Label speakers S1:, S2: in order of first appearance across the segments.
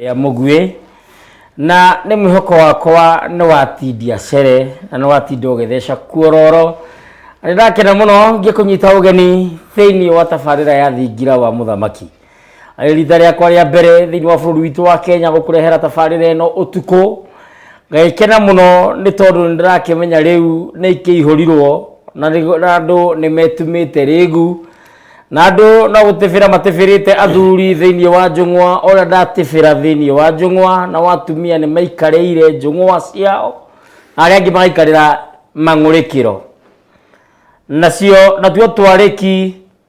S1: rĩa mũguĩ na nĩ mwĩhoko wakwa nĩ watindia cere na nĩ watinda ũgĩtheca kuororo nĩ ndakena mũno ngĩkũnyita ũgeni thĩinĩ wa tabarĩra ya thingira wa mũthamaki Arĩ rita rĩakwa rĩa mbere thĩinĩ wa bũrũri witũ wa Kenya gũkũrehera tabarĩra ĩno ũtukũ. Ngagĩkena mũno nĩ tondũ nĩ ndĩrakĩmenya rĩu nĩ ikĩihũrirwo na nĩ- na andũ nĩ metumĩte rĩgu na andũ no gũtĩbĩra matĩbĩrĩte athuri thĩinĩ wa njũng'wa ũrĩa ndatĩbĩra thĩinĩ wa njũng'wa na watumia nĩ maikarĩire njũng'wa ciao na arĩa angĩ magaikarĩra mang'ũrĩkĩro nacio natuo twarĩki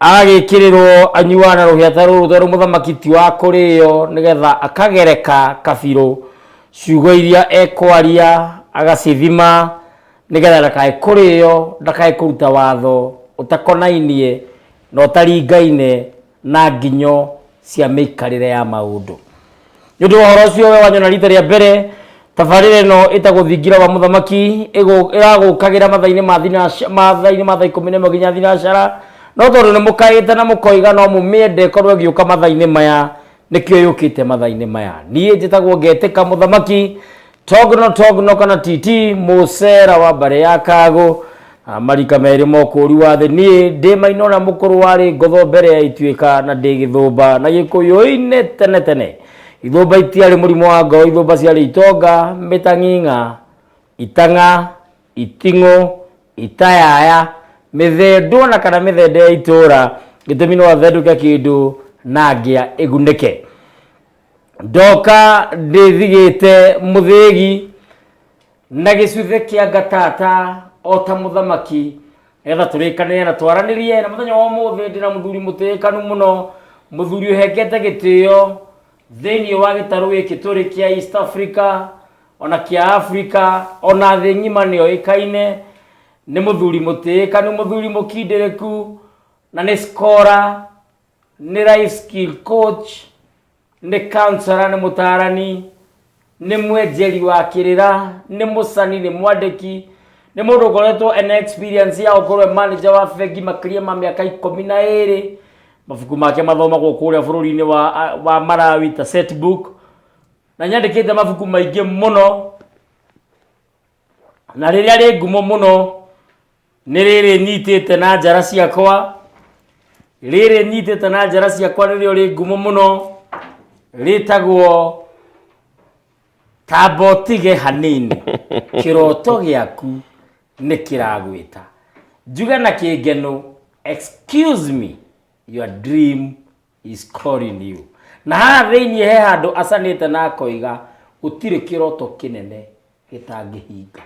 S1: agagĩkĩrĩrwo anyuaga na rũhĩa ta rũrũ tondũ mũthamaki ti wa kũrĩo nĩgetha akagereka kabirũ ciugo iria ekwaria agacithima nĩgetha ndakae kũrĩo ndakae kũruta watho ũtakonainie na ũtaringaine na nginyo cia mĩikarĩre ya maũndũ nĩ ũndũ wa ũhoro ũcio we wanyona rita rĩa mbere tabarĩra ĩno ĩtagwo thingira wa mũthamaki ĩgũ- ĩragũkagĩra matha-inĩ ma thinaca- matha-inĩ ma thaa ikũmi na ĩmwe nginya thinacara no tondũ nĩ mũkaĩte na mũkoiga no mũmĩende korwo ĩgĩũka matha-inĩ maya nĩkĩo yũkĩte matha-inĩ maya niĩ njĩtagwo ngetĩka mũthamaki togno togno kana titi musera wa mbare ya kago ah, marika merĩ mokũũri wa thĩ niĩ ndĩ maino na mũkũrũ warĩ ngotho mbere ya ituĩka na ndĩ gĩthũmba na gĩkũyũ-inĩ tene tene ithũmba itiarĩ mũrimũ wa ngoro ithũmba ciarĩ itonga mĩtang'ing'a itang'a iting'ũ itayaya mĩthendwo na kana mĩthende ya itũũra gĩtũmi no athendũke kĩndũ na ngĩa ĩgunĩke ndoka ndĩthigĩte mũthĩgi na gĩcuthe kĩa ngatata o ta mũthamaki nĩgetha tũrĩkanĩre na twaranĩrie na mũthenya wa ũmũthĩ ndĩna mũthuri mũtĩĩkanu mũno mũthuri ũhengete gĩtĩo thĩinĩ wa gĩtarũ gĩkĩ tũrĩ kĩa east africa ona kĩa africa ona thĩ ng'ima nĩyo ĩkaine nĩ mũthuri mũtĩĩkanu mũthuri mũkindĩrĩku na nĩ skora Nĩ life skill coach, nĩ counselor, nĩ mũtaarani, nĩ mwenjeri wa kĩrĩra, nĩ mũcani, nĩ mwandĩki, nĩ mũndũ ũkoretwo ena experience ya gũkorwo e manager wa bengi makĩria ma mĩaka ikũmi na ĩrĩ. Mabuku make mathomagwo kũrĩa bũrũri-inĩ wa, wa Malawi ta set book. Na nĩ andĩkĩte mabuku maingĩ mũno. na rĩrĩa rĩ ngumo mũno nĩ rĩrĩ nyitĩte na njara ciakwa rĩrĩ nyitĩte na njara ciakwa nĩrĩo rĩ ngumo mũno rĩtagwo tambotige hanini kĩroto gĩaku nĩ kĩragwĩta njuge na kĩngeno excuse me your dream is calling you na haha thĩinĩ he handũ acanĩte na akoiga gũtirĩ kĩroto kĩnene gĩtangĩhinga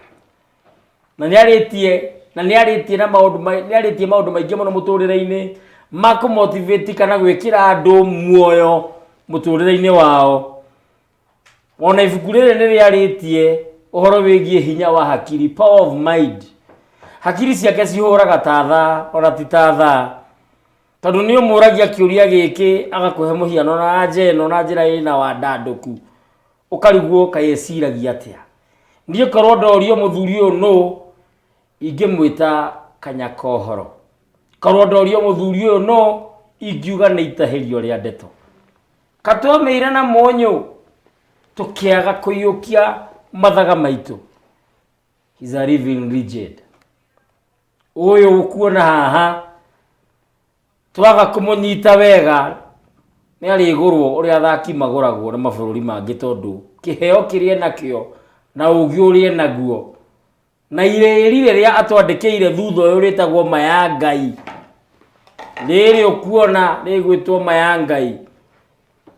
S1: na nĩ arĩtie na nĩ arĩtie na maũndũ mai- nĩ arĩtie maũndũ maingĩ mũno mũtũrĩre-inĩ ma kũmotivate kana gwĩkĩra andũ muoyo mũtũrĩre-inĩ wao ona ibuku rĩrĩ nĩ rĩarĩtie ũhoro wĩgiĩ hinya wa hakiri power of mind hakiri ciake cihũraga ta thaa ona ti ta thaa Tondũ nĩ ũmũragia kĩũria gĩkĩ agakũhe mũhiano na anja ĩno na njĩra ĩna wandandũku, ũkarigwo kaĩ eciragia atĩa. Niĩ korwo ndorio mũthuri ũyũ nũ, ingĩmwĩta Kanyakohoro. Korwo ndorio mũthuri ũyũ nũ, ingiuga nĩ itahĩrio rĩa ndeto. Ka twamĩire na mũnyũ, tũkĩaga kũiyũkia mathaga maitũ. He's a living legend. ũyũ ũkuona haha twaga kũmũnyita wega nĩ arĩgũrwo ũrĩa athaki magũragwo nĩ mabũrũri mangĩ tondũ kĩheo kĩrĩa nakĩo na ũgĩ ũrĩa naguo na irĩri rĩrĩa atwandĩkĩire thutha ũyũ rĩtagwo maya ngai rĩrĩ ũkuona rĩgwĩtwo maya ngai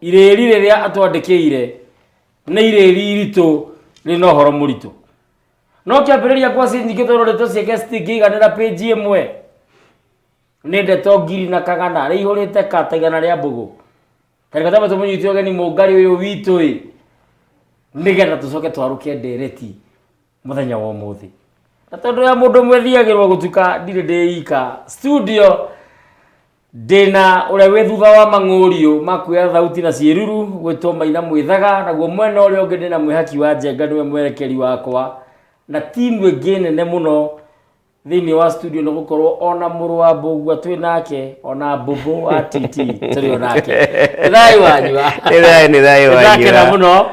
S1: irĩri rĩrĩa atwandĩkĩire nĩ irĩri iritũ rĩna ũhoro mũritũ no kĩambĩrĩria kwa scene nyingĩ tondũ ndeto ciake citingĩiganĩra page ĩmwe nĩ ndeto ngiri na kagana rĩa ihũrĩte ka ta igana rĩa mbũgũ tarĩka tama tũmũnyiti ũgeni mũngari ũyũ witũ ĩ nĩgetha tũcoke twarũke ndereti mũthenya wa ũmũthĩ na tondũ ya mũndũ mwethiagĩrwo gũtuka ndirĩ ndĩika studio Ndĩna ũrĩa wĩ thutha wa mang'ũriũ ma kuoya thauti na ciĩruru gwĩtwo maina mwĩthaga, naguo mwena ũrĩa ũngĩ ndĩna mwĩhaki wa njenga nĩwe mwerekeri wakwa, na timu ĩngĩ nene mũno thĩinĩ wa studio nĩ gũkorwo ona mũrũ wa mbũgua twĩ nake ona mbũmbũ wa titi tũrĩ o nake nĩ thayũ wanyua Nĩ thayũ, nĩ thayũ Nĩ ndakena wanyua. mũno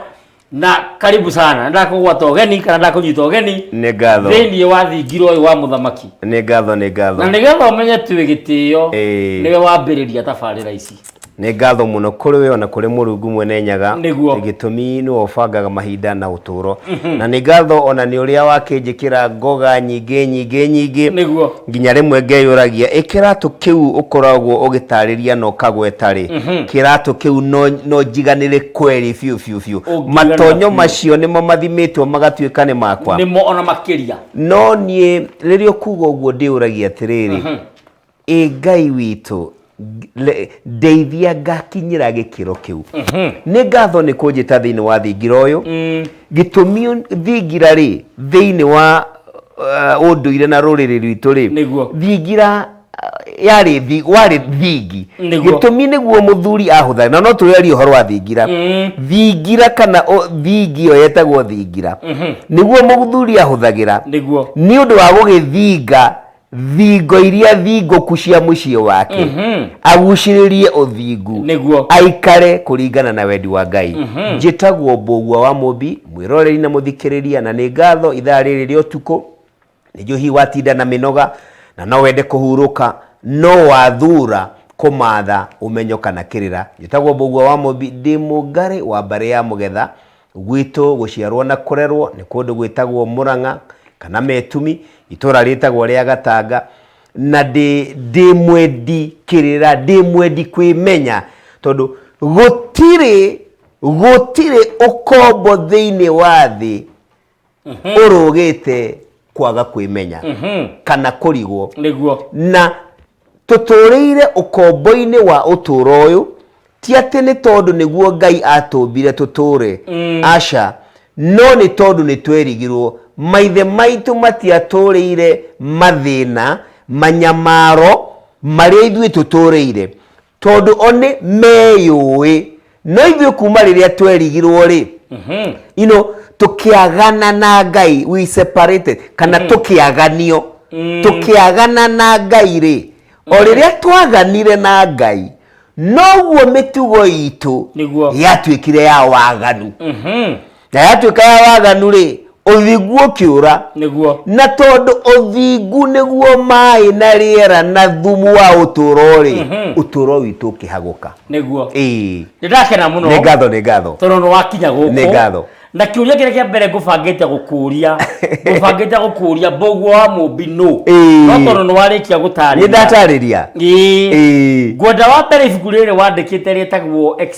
S1: na karibu sana ndakũgwata ũgeni kana ndakũnyita ũgeni nĩ ngatho thĩinĩ wa thingiro ũyũ wa mũthamaki nĩ ngatho nĩ ngatho na nĩgetha ũmenye tũĩ gĩtĩo Ĩĩ. nĩwe wambĩrĩria tabarĩra ici nĩ ngatho mũno kũrĩ we ona kũrĩ mũrungu mwene nyaga Nĩguo. gĩtũmi nĩwe ũbangaga mahinda na ũtũũro na nĩ ngatho ona nĩ ũrĩa wakĩnjĩkĩra ngoga nyingĩ nyingĩ nyingĩ nĩguo nginya rĩmwe ngeyũragia ĩ kĩratũ kĩu ũkoragwo ũgĩtarĩria na ũkagweta rĩ kĩratũ kĩu no- no njiganĩre kweri biũ biũ biũ Ũngĩganĩra matonyo biũ. macio nĩmo mathimĩtwo magatuĩka nĩ makwa nĩmo ona makĩria no niĩ rĩrĩa ũkuga ũguo ndĩũragia atĩrĩrĩ ĩ ngai witũ ng- le- ndeithia ngakinyĩra gĩkĩro kĩu nĩ ngatho nĩ kũnjĩta thĩinĩ wa thingira ũyũ gĩtũmi thingira rĩ thĩinĩ wa uh, ũndũire na rũrĩrĩ rwitũ rĩ Nĩguo. thingira yarĩ thi- warĩ thingi Nĩguo. gĩtũmi nĩguo mũthuri ahũthane na no tũrerie ũhoro wa thingira thingira kana ũ- thingi ĩyo yetagwo thingira nĩguo mũthuri ahũthagĩra nĩguo nĩ ũndũ wa gũgĩthinga thingo iria thingũku cia mũciĩ wake agucĩrĩrie ũthingu Nĩguo. aikare kũringana na wendi wa ngai njĩtagwo mbũgua wa mũmbi mwĩroreri na mũthikĩrĩria na nĩ ngatho ithaa rĩrĩ rĩa ũtukũ nĩguo hihi watinda na mĩnoga na no wende kũhurũka no wathura kũmatha ũmenyo kana kĩrĩra njĩtagwo mbũgua wa mũmbi ndĩ mũngarĩ wa mbarĩ ya mũgetha gwitũ gũciarwo na kũrerwo nĩ kũndũ gwĩtagwo mũrang'a kana metumi itũra rĩtagwo rĩa gatanga na ndĩ ndĩ mwendi kĩrĩra ndĩ mwendi kwĩmenya tondũ gũtirĩ gũtirĩ ũkombo thĩinĩ wa thĩ ũrũgĩte kwaga kwĩmenya kana kũrigwo nĩguo na tũtũũrĩire ũkombo-inĩ wa ũtũũro ũyũ ti atĩ nĩ tondũ nĩguo ngai atũmbire tũtũũre aca no nĩ tondũ nĩ twerigirwo maithe maitũ matiatũũrĩire mathĩna manyamaro marĩa ithuĩ tũtũũrĩire tondũ o nĩ meyũĩ no ithuĩ kuma rĩrĩa twerigirwo rĩ you know, tũkĩagana na ngai we separated kana tũkĩaganio tũkĩagana na ngai rĩ o rĩrĩa twaganire na ngai noguo mĩtugo itũ Nĩguo. yatuĩkire ya waganu na yatuĩka ya waganu rĩ ũthingu ũkĩũra nĩguo na tondũ ũthingu nĩguo maĩ na rĩera na thumu wa ũtũũro rĩ Mhm. ũtũũro witũ ũkĩhagũka nĩguo ĩĩ nĩ ndakena mũno nĩ ngatho nĩ ngatho tondũ nĩ wakinya Nĩ gũkũ ngatho. na kĩũria kĩrĩa kĩa mbere ngũbangĩte gũkũria ngũbangĩte gũkũria mbũguo wa mũmbi nũ Ĩĩ. no tondũ nĩ warĩkia nĩ gũtarĩria ndatarĩria Ĩĩ. Ĩĩ. ngwenda wa mbere ibuku rĩrĩ wandĩkĩte rĩtagwo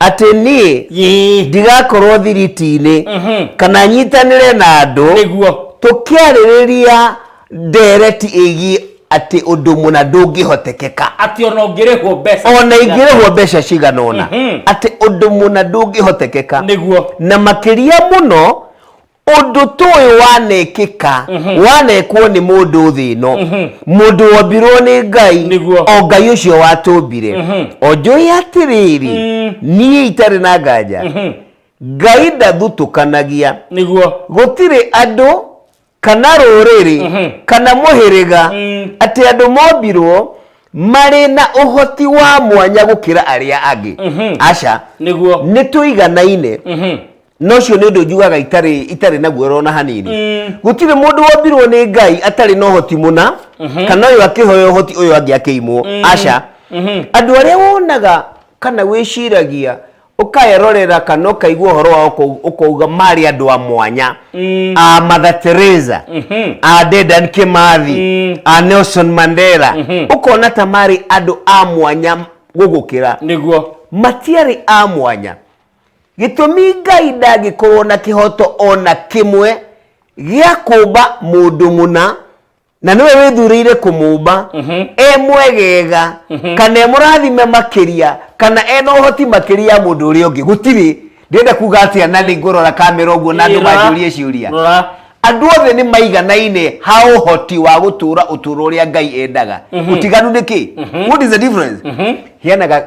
S1: atĩ niĩ Yee. ndigakorwo thiriti-inĩ Mhm. kana nyitanĩre na andũ nĩguo tũkĩarĩrĩria ndereti ĩgiĩ atĩ ũndũ mũna ndũngĩhotekeka atĩ ona ũngĩrĩhwo mbeca ona ingĩrĩhwo mbeca cigana ũna Mhm. atĩ ũndũ mũna ndũngĩhotekeka nĩguo na makĩria mũno ũndũ tũĩ wanekĩka mhm. wanekwo nĩ mũndũ thĩ ĩno mhm. mũndũ wombirwo nĩ ngai o ngai ũcio watũmbire mhm. onjũĩ atĩrĩrĩ mm. niĩ itarĩ na nganja ngai ndathutũkanagia nĩguo gũtirĩ andũ kana rũrĩrĩ kana mũhĩrĩga mm. atĩ andũ mombirwo marĩ na ũhoti wa mwanya gũkĩra arĩa angĩ aca nĩguo nĩ tũiganaine na ũcio nĩ ũndũ njugaga itarĩ itarĩ na guoro ona hanini gũtirĩ mũndũ wombirwo nĩ ngai atarĩ na ũhoti mũna kana ũyũ akĩhoya ũhoti ũyũ angĩ akĩimwo aca andũ arĩa wonaga kana wĩciragia ũkaerorera kana ũkaigua ũhoro wao ũkau- ũkauga marĩ andũ a mwanya a Mother Teresa a Dedan Kimathi a Nelson Mandela ũkona ta marĩ andũ a mwanya gũgũkĩra nĩguo matiarĩ a mwanya Gĩtũmi Ngai ndangĩkorwo na kĩhoto o na kĩmwe gĩa kũmba mũndũ mũna na nĩwe wĩthurĩire kũmũmba e mwegega kana e mũrathime makĩria kana e na ũhoti makĩria ya mũndũ ũrĩa ũngĩ gũtirĩ ndĩrenda kuga atĩa na nĩ ngũrora kamera ũguo na andũ Ĩra. manjũrie ciũria Rora. andũ othe nĩ maiganaine ha ũhoti wa gũtũra ũtũro ũrĩa ngai endaga ũtiganu nĩ kĩ what is the difference heanaga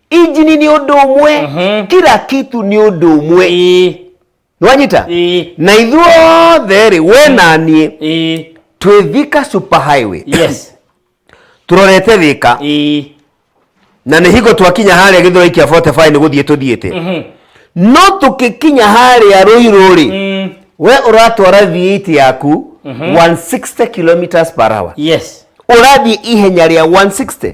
S1: injini nĩ ũndũ ũmwe Mhm. kila kitu nĩ ũndũ ũmwe Ĩĩ, nĩwanyita ĩĩ, na ithuothe rĩ we na niĩ ĩĩ, twĩ thika super highway yes, tũrorete thika ĩĩ, na nĩ hingo twakinya harĩa gĩthoi kĩa 45 nĩ gũthiĩ tũthiĩte mhm, no tũkĩkinya harĩa rũirũ rĩ mm, we ũratwara V8 yaku 160 kilometers per hour yes, ũrathiĩ ihenya rĩa 160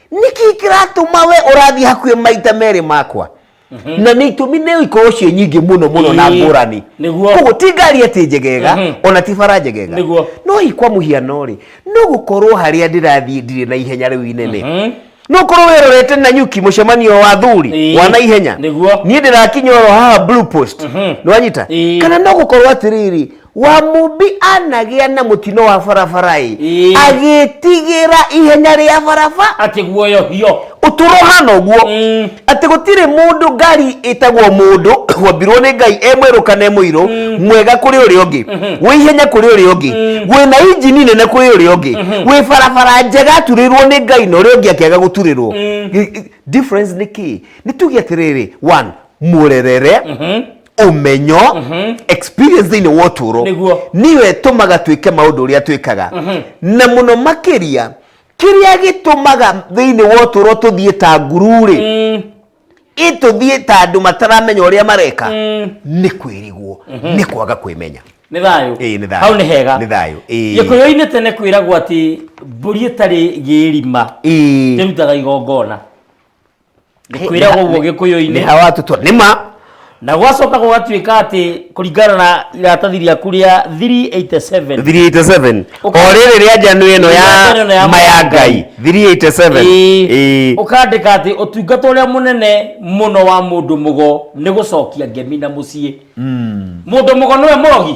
S1: nĩkĩ kĩratũma we ũrathiĩ hakuhĩ maita merĩ makwa na nĩ itũmi nĩ ikorwo ciĩ nyingĩ mũno mũno na Ĩĩ, ngũrani nĩguo. koguo ti ngari atĩ njegega Mhm. ona ti bara njegega Nĩguo. no hihi kwa mũhiano rĩ no gũkorwo harĩa ndĩrathiĩ ndirĩ na ihenya rĩu inene Mhm. no korwo wĩrorete na nyuki mũcemanio wa thuri Ĩĩ. wa na ihenya Nĩguo. niĩ ndĩrakinya oro haha blue post Mhm. nĩwanyita Ĩĩ. kana no gũkorwo atĩrĩrĩ wa mumbi anagĩa na mũtino wa barabara-ĩ Ĩĩ. agĩtigĩra ihenya rĩa barabara atä guoyohio ũtũro hana ũguo Mm. atĩ gũtirĩ mũndũ ngari ĩtagwo mũndũ wambirwo nĩ ngai e mwerũ kana e mũirũ mwega kũrĩ ũrĩa ũngĩ wĩ ihenya kũrĩ ũrĩa ũngĩ wĩ na injini nene kũrĩ ũrĩa ũngĩ wĩ barabara njega aturĩrwo nĩ ngai na ũrĩa ũngĩ akĩaga gũturĩrwo Gĩ- gĩ- difference nĩ kĩ nĩ tuge atĩrĩrĩ one mũrerere ũmenyo experience thĩinĩ wa ũtũũro Nĩguo. nĩyo ĩtũmaga twĩke maũndũ ũrĩa twĩkaga na mũno makĩria kĩrĩa gĩtũmaga thĩinĩ wa ũtũũro tũthiĩ ta nguru-rĩ ĩtũthiĩ ta andũ mataramenya ũrĩa mareka nĩ kwĩrigwo nĩ kwaga kwĩmenya nĩ thayũ Ĩĩ, nĩ thayũ. hau nĩ hega Nĩ thayũ, ĩĩ. gĩkũyũ-inĩ tene kwĩragwo atĩ mbũri ĩtarĩ gĩrima Ĩĩ. ĩrutaga igongona kwĩragwo ũguo nĩ gĩkũyũ-inĩ hawa tutwa nĩ ma na gwacoka gũgatuĩka atĩ kũringana na iratathi rĩaku rĩa 387 387 o Ũka- rĩrĩ rĩa njano ĩno Rĩa njano ĩno ya ya maya ngai 387 Ĩĩ. Ĩĩ. ũkandĩka atĩ ũtungata ũrĩa mũnene mũno wa mũndũ mũgo nĩ gũcokia ngemi na mũciĩ mũndũ mũgo nĩwe mũrogi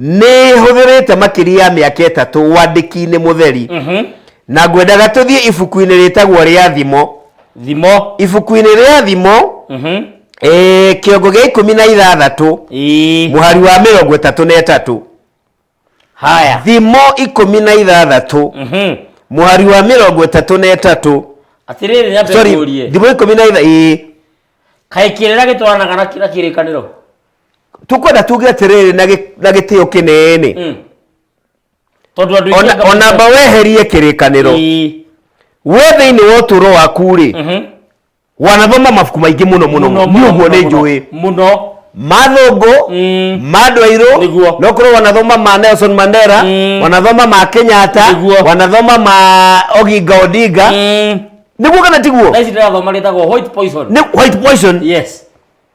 S1: nĩ hũthĩrĩte makĩria ya mĩaka ĩtatũ wandĩki-inĩ mũtheri na ngwendaga tũthiĩ ibuku-inĩ rĩtagwo rĩa thimo thimo ibuku-inĩ rĩa thimo Mhm. eh, kĩongo gĩa ikũmi na ithathatũ Ĩĩ. mũhari wa mĩrongo ĩtatũ na ĩtatũ haya thimo ikũmi na ithathatũ Mhm. mũhari wa mĩrongo ĩtatũ na ĩtatũ atĩrĩrĩ nyambe sorry ngũrie thimo ikũmi na ithatũ ĩĩ kaĩ kĩrĩra gĩtwaranaga na kĩra kĩrĩkanĩro tukwenda tuge atiriri na gi- na gitio kinene Mm. tondå andå Ona- ona mba weherie kirikaniro we thiini wa uturo waku ri wanathoma mabuku maingi muno muno ni uguo ni njui må no mathungu Mm. mandå airå Nĩguo. no korwo wanathoma ma nelson mandera Mm. wanathoma ma kenyatta Nĩguo. wanathoma ma oginga odinga niguo kana tiguo na ici ndä rathoma rä tagwo white poison Nĩ- white poison yes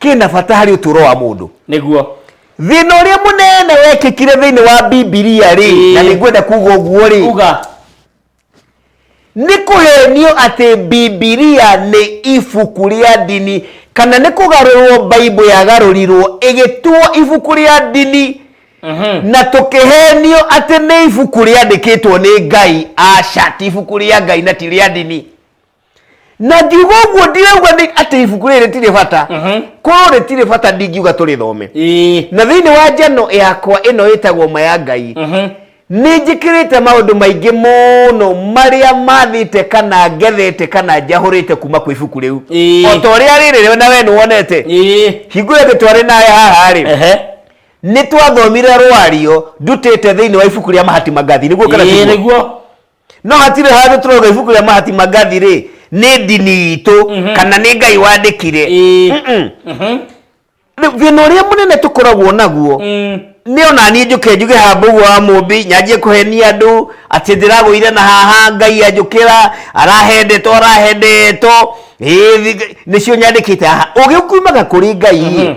S1: kĩna bata harĩ ũtũũro wa mũndũ nĩguo thĩna ũrĩa mũnene wekĩkire thĩinĩ wa bibilia rĩ Ĩĩ. na nĩngwenda kuga ũguo rĩ uga nĩ kũhenio atĩ bibilia nĩ ibuku rĩa ndini kana nĩ kũgarũrwo baibũ yagarũrirwo ĩgĩtuo ibuku rĩa ndini Mhm. na tũkĩhenio atĩ nĩ ibuku rĩandĩkĩtwo nĩ ngai aca ti ibuku rĩa ngai na ti rĩa ndini na ngiuga ũguo ndirauga nĩ atĩ ibuku rĩrĩ rĩtirĩ bata korwo rĩtirĩ bata ndingiuga tũrĩthome Ĩĩ. na thĩinĩ wa njano yakwa ĩno ĩtagwo ma ya ngai nĩ njĩkĩrĩte maũndũ maingĩ mũno marĩa mathĩte kana ngethete kana njahũrĩte kuma kwĩ ibuku rĩu Ĩĩ. o ta ũrĩa rĩrĩ we na we nĩ wonete Ĩĩ. hingũre thĩ twarĩ nawe haha-rĩ Ehe. nĩ twathomire rwario ndutĩte thĩinĩ wa ibuku rĩa mahati mangathi nĩguo kana Ĩĩ, tiguo? nĩguo no hatirĩ handũ tũrauga ibuku rĩa mahati magathi rĩ nĩ ndini itũ Mhm. kana nĩ ngai wandĩkire Ĩĩ. Mm-mm. Mhm. Rĩu thĩna ũrĩa mũnene tũkoragwo naguo Mm. nĩ ona niĩ njũke njuge hamba ũguo wa mũmbi nyanjie kũhenia andũ atĩ ndĩragũire na haha ngai anjũkĩra arahendetwo arahendetwo Ĩĩ, thi- nĩcio nyandĩkĩte haha ũgĩ ũkiumaga kũrĩ ngai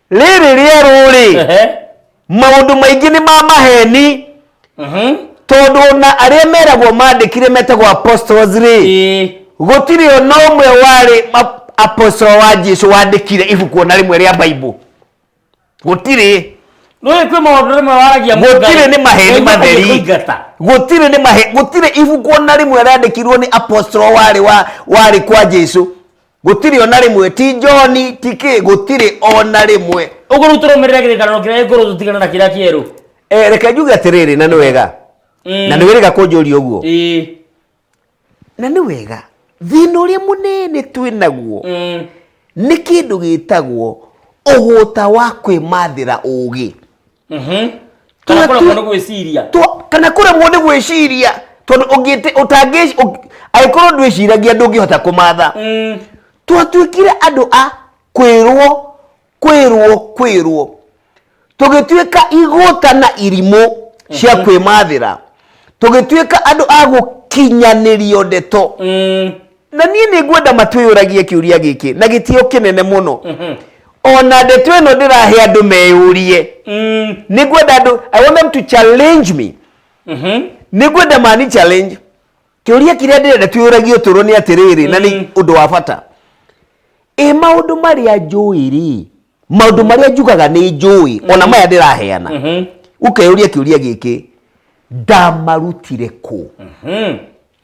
S1: rĩrĩ rĩerũ-rĩ Ehe. maũndũ maingĩ nĩ ma maheni Mhm. tondũ ona arĩa meragwo mandĩkire metagwo apostles-rĩ Ĩĩ. gũtirĩ ona ũmwe warĩ ma- apostle wa jesu wandĩkire ibuku ona rĩmwe rĩa baibũ gũtirĩ Nũĩ kwĩ maũndũ rĩmwe waragia mũndũ Gũtirĩ ngarĩ. nĩ maheni Ngai matheri. makuge kũingata. gũtirĩ nĩ mahe gũtirĩ ibuku ona rĩmwe rĩandĩkirwo nĩ apostle warĩ wa warĩ kwa jesu gũtirĩ ona rĩmwe ti njoni ti kĩ gũtirĩ ona rĩmwe ũguo rĩu tũrũmĩrĩra kĩrĩkanĩro kĩrĩa gĩkũrũ tũtigana na kĩrĩa kĩerũ Eh, reke njuge atĩrĩrĩ na nĩ wega Mm. na nĩ wĩrĩga kũnjũria ũguo Ĩĩ. na nĩ wega thĩna ũrĩa mũnene twĩ naguo Mm. nĩ kĩndũ gĩtagwo ũgũta wa kwĩmathĩra ũũgĩ kana kũremwo nĩ gwĩciria kana kũremwo nĩ gwĩciria tondũ ũngĩte ũtangĩ angĩkorwo ndwĩciragia ndũngĩhota kũmatha mm. twatuĩkire andũ a kwĩrwo kwĩrwo kwĩrwo tũgĩtuĩka igũta na irimũ cia mhm. kwĩmathĩra tũgĩtuĩka andũ a gũkinyanĩrio ndeto mm. na niĩ nĩ ngwenda matwĩyũragie kĩũria gĩkĩ na gĩtio kĩnene mũno mhm. ona ndeto ĩno ndĩrahe andũ meyũrie mm. nĩ ngwenda andũ i want them to challenge me mhm. nĩ ngwenda mani challenge kĩũria kĩrĩa ndĩrenda twĩyũragie ũtũro nĩ atĩrĩrĩ na nĩ mm. ũndũ wa bata ĩ maũndũ marĩa njũĩ rĩ maũndũ marĩa njugaga nĩ njũĩ ona mm-hmm. maya ndĩraheana mm-hmm. ũkeyũria kĩũria gĩkĩ ndamarutire kũ mm-hmm.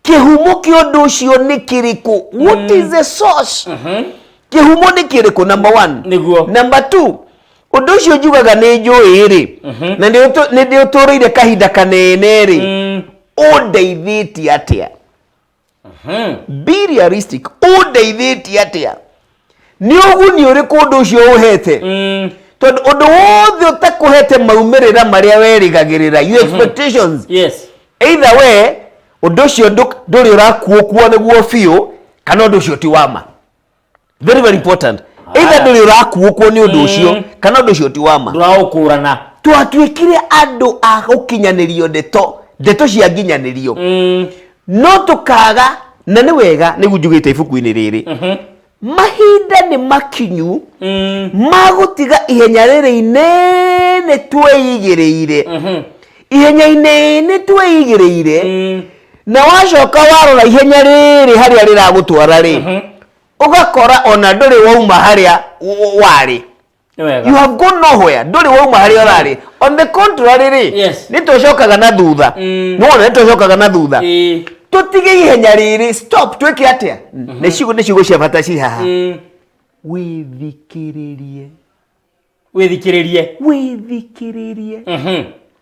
S1: kĩhumo kĩa ũndũ ũcio nĩ kĩrĩkũ what mm. is the source mm -hmm. kĩhumo nĩ kĩrĩkũ number one nĩguo number two ũndũ ũcio njugaga nĩ njũĩ rĩ mm -hmm. na nĩ ndĩ ũtũrĩire kahinda kanene rĩ mm. ũndeithĩtie atĩa mm -hmm. be realistic ũndeithĩtie atĩa nĩ ũguni ũrĩkũ ũndũ ũcio ũhete mm. tondũ ũndũ wothe ũtakũhete maumĩrĩra marĩa werĩgagĩrĩra you mhm. expectations yes. either we ũndũ ũcio ndũrĩ ũrakuokua nĩguo biũ kana ũndũ ũcio ti wama very very important ah. either ndũrĩ ũrakuokua nĩ ũndũ ũcio mm. kana ũndũ ũcio ti wama ndũraũkũrana twatuĩkire andũ a gũkinyanĩrio ndeto ndeto cia nginyanĩrio mm. no tũkaga na nĩ wega nĩguo njugĩte ibuku-inĩ rĩrĩ mahinda nĩ makinyu ma gũtiga ihenya rĩrĩ inene twĩigĩrĩire ihenya-inĩ inĩ twĩigĩrĩire na wacoka warora ihenya rĩrĩ harĩa rĩragũtwara rĩ ũgakora ona ndũrĩ wauma harĩa w- warĩ Nĩ wega. you have gone nowhere ndũrĩ wauma harĩa ũrarĩ on the contrary rĩ Yes. nĩ tũcokaga na thutha Mm. nĩwona nĩ tũcokaga na thutha Ĩĩ. tũtige ihenya rĩrĩ stop twĩke atĩa nĩ ciugo nĩ ciugo cia bata ciĩ haha Mm. wĩthikĩrĩrie wĩthikĩrĩrie wĩthikĩrĩrie Mhm.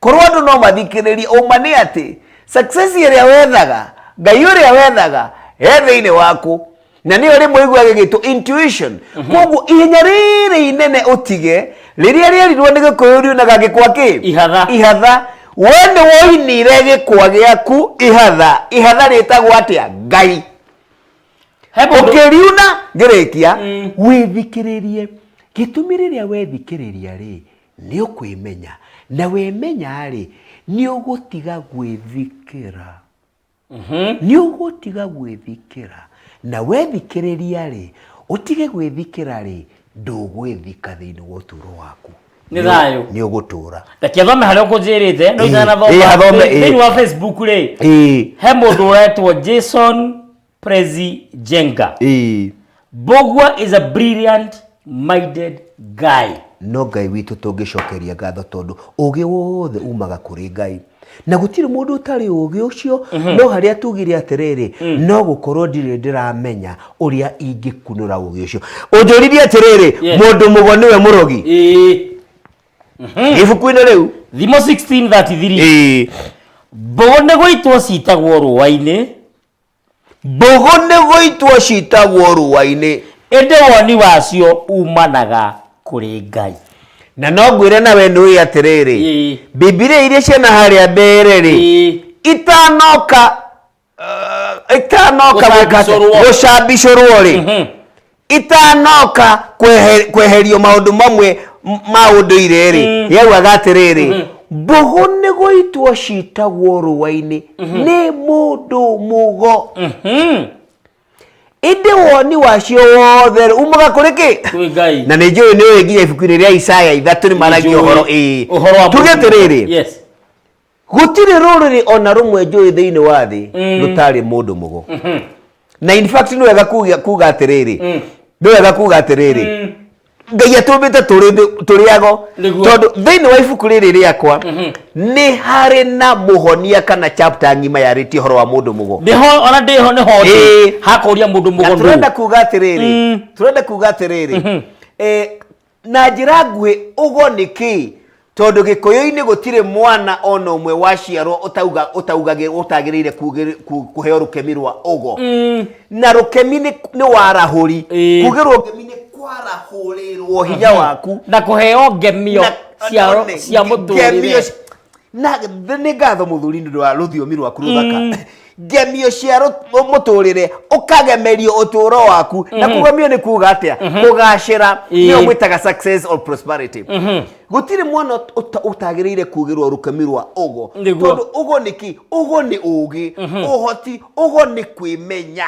S1: Korwo andũ no mathikĩrĩrie, ũma nĩ atĩ success ĩrĩa wethaga, Ngai ũrĩa wethaga, he thĩinĩ waku. Na nĩyo rĩmwe ĩiguaga ĩgĩtwo intuition. Mhm. Koguo ihenya rĩrĩ inene ũtige, rĩrĩa rĩerirwo nĩ gĩkũyũ riunaga gĩkwa kĩ? Ihatha. Ihatha. We nĩ woinire gĩkwa gĩaku ihatha. Ihatha rĩtagwo atĩa? Ngai. Ũkĩriuna, ngĩrĩkia, mm. wĩthikĩrĩrie. Gĩtũmi rĩrĩa wethikĩrĩria rĩ, nĩ ũkwĩmenya na wĩmenya-rĩ nĩ ũgũtiga gwĩthikĩra nĩ ũgũtiga gwĩthikĩra na wethikĩrĩria-rĩ ũtige gwĩthikĩra-rĩ ndũgwĩthika thĩinĩ wa ũtũũro waku Nĩ thayũ. nĩ ũgũtũũra reke thome harĩa ũkũnjĩrĩte no Ĩĩ, ĩĩ, athome, ĩĩ. itanathomthĩinĩ wa facebook rĩ Ĩĩ. he mũndũ ũretwo jason Prezi Jenga. Ĩĩ. Bogwa is a brilliant minded guy. no ngai witũ tũngĩcokeria ngatho tondũ ũgĩ wothe umaga kũrĩ ngai na gũtirĩ mũndũ ũtarĩ ũgĩ ũcio no harĩa tugire atĩrĩrĩ no gũkorwo ndirĩ ndĩramenya ũrĩa ingĩkunũra ũgĩ ũcio ũnjũririe atĩrĩrĩ Yeah. mũndũ mũgo nĩwe mũrogi Ĩĩ. ibuku-inĩ rĩu Thimo 16:33. Ĩĩ. Mbogo nĩ gũitwo citagwo rũũa-inĩ Mbũgũ nĩgũitwo citagwo rũũa-inĩ. Ĩndĩ woni wacio uumanaga kũrĩ Ngai. Na no ngwĩre na wee nĩũĩ atĩrĩrĩ, Ĩĩ. Bibilia iria ciana harĩa mbere-rĩ, Ĩĩ. itanoka uh, itanoka gwĩka atĩa? Gũcambicũrwo. gũcambicũrwo-rĩ, Mhm. itanoka kwehe- kweherio maũndũ mamwe m- ma ũndũire-rĩ Mm. yaugaga atĩrĩrĩ Mhm. mbũgũ nĩ gũitwo citagwo rũa-inĩ nĩ mũndũ mũgo Mhm. ĩndĩ woni wacio wothe umaga kũrĩ kĩ Kwĩ Ngai. na nĩ njũĩ nĩ ũĩ nginya ibuku-inĩ rĩa isaya ithatũ nĩ maragia Nĩnjũĩ ũhoro ĩĩ ũhoro wa tuge mũndũ. atĩrĩrĩ Yes. Gũtirĩ rũrĩrĩ o na rũmwe njũĩ thĩinĩ wa thĩ mm. rũtarĩ mũndũ mũgo. Mm-hmm. Na in fact nĩ wega kuga atĩrĩrĩ, mm. nĩ wega kuga atĩrĩrĩ, mm. ngai atũmbĩte tũrĩ ago tondũ thĩinĩ wa ibuku rĩrĩ rĩakwa mm-hmm. nĩ harĩ na mũhonia kana chapter ng'ima yarĩtie ũhoro wa mũndũ mũgo ona ndĩho nĩ ho hakũria mũndũ mũgo turenda kuga atĩrĩrĩ turenda kuga atĩrĩrĩ mm-hmm. eh, na njĩra nguhĩ ũgo nĩ kĩĩ tondũ gĩkũyũ-inĩ gũtirĩ mwana ona ũmwe waciarwo ũtauga ũtaugagĩ ũtagĩrĩire kugĩ- ku- kũheo rũkemi rwa ũgo na rũkemi nĩ nĩ warahũri Ĩĩ. kugĩrwo ngemi nĩ kwarahũrĩrwo hinya waku na kũheo ngemio Na- cia one, cia ngemio mũtũrĩre ci- na th- nĩ ngatho mũthuri nĩ ũndũ wa rũthiomi rwaku rũthaka ngemio cia rũ- mũtũrĩre ũkagemerio ũtũro waku na kũgemio nĩ kuga atĩa kũgacĩra Ĩĩ. nĩyo mwĩtaga success or prosperity gũtirĩ mwana ũt- ũta- ũtagĩrĩire kugĩrwo rũkemi rwa ũgo Nĩguo. tondũ ũgo nĩ kĩ ũgo nĩ ũgĩ ũhoti ũgo nĩ kwĩmenya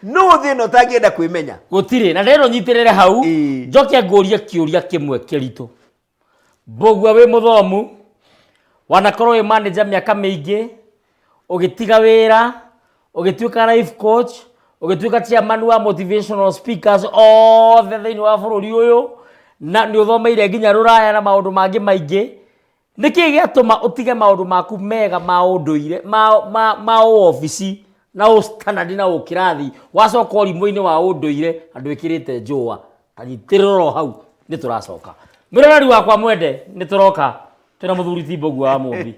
S1: no thĩ ĩno ũtangĩenda kwĩmenya gũtirĩ na rero nyitĩrĩre hau Ĩĩ. njoke ngũrie kĩũria kĩmwe kĩritũ Mbũgua wĩ mũthomu, wanakorwo wĩ manager mĩaka mĩingĩ, ũgĩtiga wĩra, ũgĩtuĩka life coach, ũgĩtuĩka chairman wa motivational speakers othe thĩinĩ wa bũrũri ũyũ, na nĩ ũthomeire nginya rũraya na maũndũ mangĩ maingĩ, nĩ kĩĩ gĩatũma ũtige maũndũ maku mega ma ũndũire, ma, ma, ma ũobici na ũ standard na ũkĩrathi, wacoka ũrimũ-inĩ wa ũndũire andũ ĩkĩrĩte njũa? agitĩrĩrwo hau nĩ tũracoka mwĩroreri wakwa mwende nĩ tũroka twĩna mũthuri timbogu wa mũmbi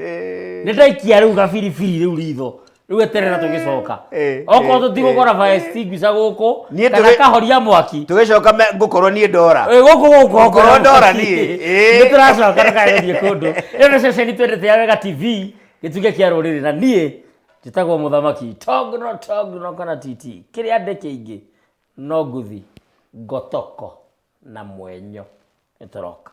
S1: nĩ ndaikia rĩu gabiribiri rĩu ritho rĩu eterera tũgĩcoka Eh, okorwo eh, tũtigũkora fire extinguisher gũkũ Niĩ kana tũgĩ- kahoria mwaki tũgĩcoka me- ngũkorwo niĩ ndora Ĩ, gũkũ gũkũ Ngorwo ndora niĩ, ĩ. nĩ tũracoka ndũkagĩthiĩ kũndũ ĩyo nĩ ceceni twendete ya wega tv gĩtuge kĩa rũrĩrĩ na niĩ njĩtagwo mũthamaki togno togno kana titi kĩrĩa ndĩ kĩingĩ No ngũthi ngotoko na mwenyo nĩ tũroka